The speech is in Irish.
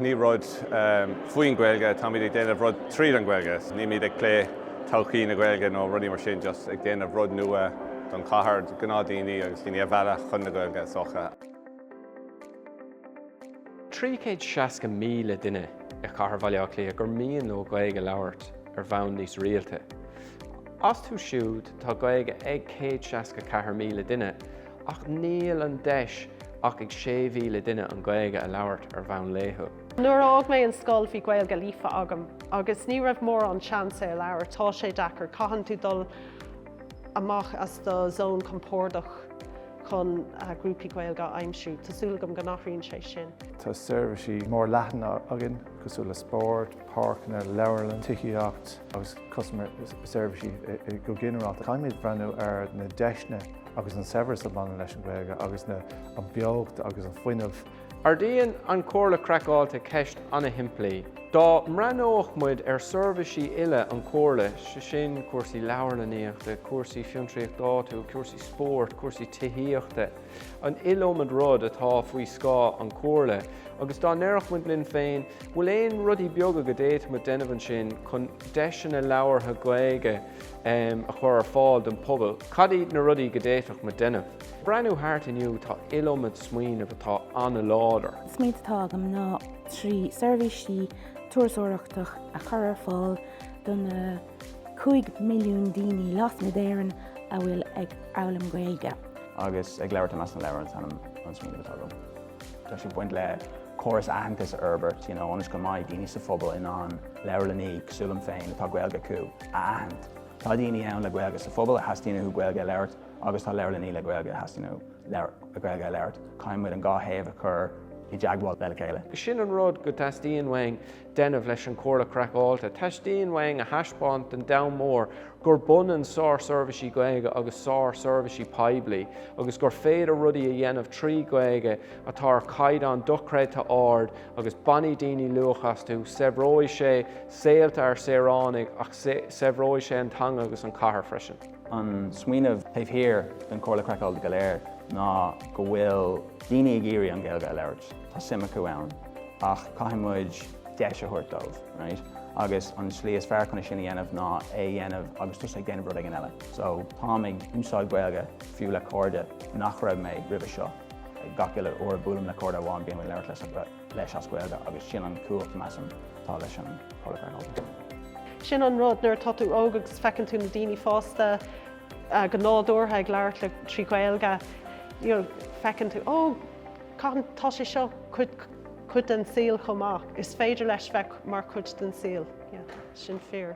Ní rud faoin Gaeilge, táimid ag déanamh rud tríd an Gaeilge. Nílimid ag plé todhchaí na Gaeilge nó rudaí mar sin, just ag déanamh rud nua don chathair, gnáthdhaoine agus daoine a mhealladh chun na Gaeilge is dócha. 360,000 duine i chathair Bhaile Átha Cliath gur mian leo Gaeilge a labhairt ar bhonn níos rialta. Astu siúd tá Gaeilge ag 164,000 duine Ach níl an deis ach ag 6,000 duine an Ghaeilge a labhairt ar bhonn laethúil. Nuair a fhág mé an scoil bhí Gaeilge líofa agam agus ní raibh mórán seans é a labhairt. Tá sé deacair, caitheann tú dul amach as do zón compordach chun grúpaí Gaeilge a aimsiú. Tá súil agam go n-athraíonn sé sin. Tá seirbhísí mórleathana againn cosúil le spórt, páirceanna, leabharlann, tithíocht. agus customer seirbhísí go ginearálta. Caithfimid breathnú ar na deiseanna agus an saibhreas a bhaineann leis an Ghaeilge agus an beocht agus an fuinneamh. Ardaíonn an Chomhairle Craiceáilte ceist an-shimplí. Dá mbreathnódh muid ar seirbhísí uile an Chomhairle, sé sin cúrsaí leabharlannaíochta, cúrsaí fiontraíochta áitiúil, cúrsaí spóirt, cúrsaí tithíochta, an iliomad rud atá faoi scáth an Chomhairle agus dá ndéarfadh muid linn féin bhfuil aon rudaí beaga go d'fhéadfadh muid déanamh ansin chun deiseanna labhartha Gaeilge a chur ar fáil don pobal, cad iad na rudaí go d'fhéadfadh muid déanamh? Breathnú thart inniu tá an iliomad smaoineamh atá an-láidir. Smaoineamh atá agam ná trí seirbhísí turasóireachta a chur ar fáil do na cúig milliún daoine lasmuigh d'Éirinn a bhfuil ag foghlaim Gaeilge. agus ag labhairt i measc na leabhar is ainm don smaoineamh atá agam. Tá sé ag baint le córas aitheantais a fhorbairt you know ionas go mbeidh daoine sa phobal in ann leabharlannaí, cosúil liom féin, atá Gaeilge acu, a aithint. Tá daoine ann le Gaeilge sa phobal a theastaíonn uathu Gaeilge a labhairt agus tá leabharlannaí le Gaeilge a theastaíonn uathu Gaeilge a labhairt. Caithfidh muid an dhá thaobh a chur i dteagmháil le chéile. Sin an rud go dteastaíonn uainn, déanamh leis an Chomhairle Craiceáilte. Teastaíonn uainn a thaispeáint don domhan mór gurb ionann sársheirbhísí Gaeilge agus sársheirbhísí poiblí agus gur féidir rudaí a dhéanamh trí Ghaeilge atá ar chaighdeán dochreidte ard agus bainfidh daoine luach astu, saibhreoidh sé saolta ár saoránaigh ach saibhreoidh sé an teanga agus an chathair freisin. An smaoineamh taobh thiar den Chomhairle Craiceáilte go léir ná go bhfuil daoine ag iarraidh an Ghaeilge a labhairt, tá suim acu ann, ach caithfidh muid deis a thabhairt dóibh, right? Agus an tslí is fearr chun é sin a dhéanamh ná é a dhéanamh agus tusa ag déanamh rud éigin eile. So, táim ag úsáid Gaeilge fiú le cairde nach raibh mé roimhe seo. Gach uile uair a buailim le cairde amháin bím ag labhairt leis. leis as Gaeilge agus sin an chumhacht measaim atá leis an Hurricane Open. Sin an rud, nuair atá tú óg agus feiceann tú na daoine fásta go nádúrtha ag labhairt le trí Ghaeilge, you know, feiceann tú, oh, caithfidh, tá sé seo cuid, cuid den saol chomh maith, is féidir leis bheith mar chuid den saol, yeah, sin fíor.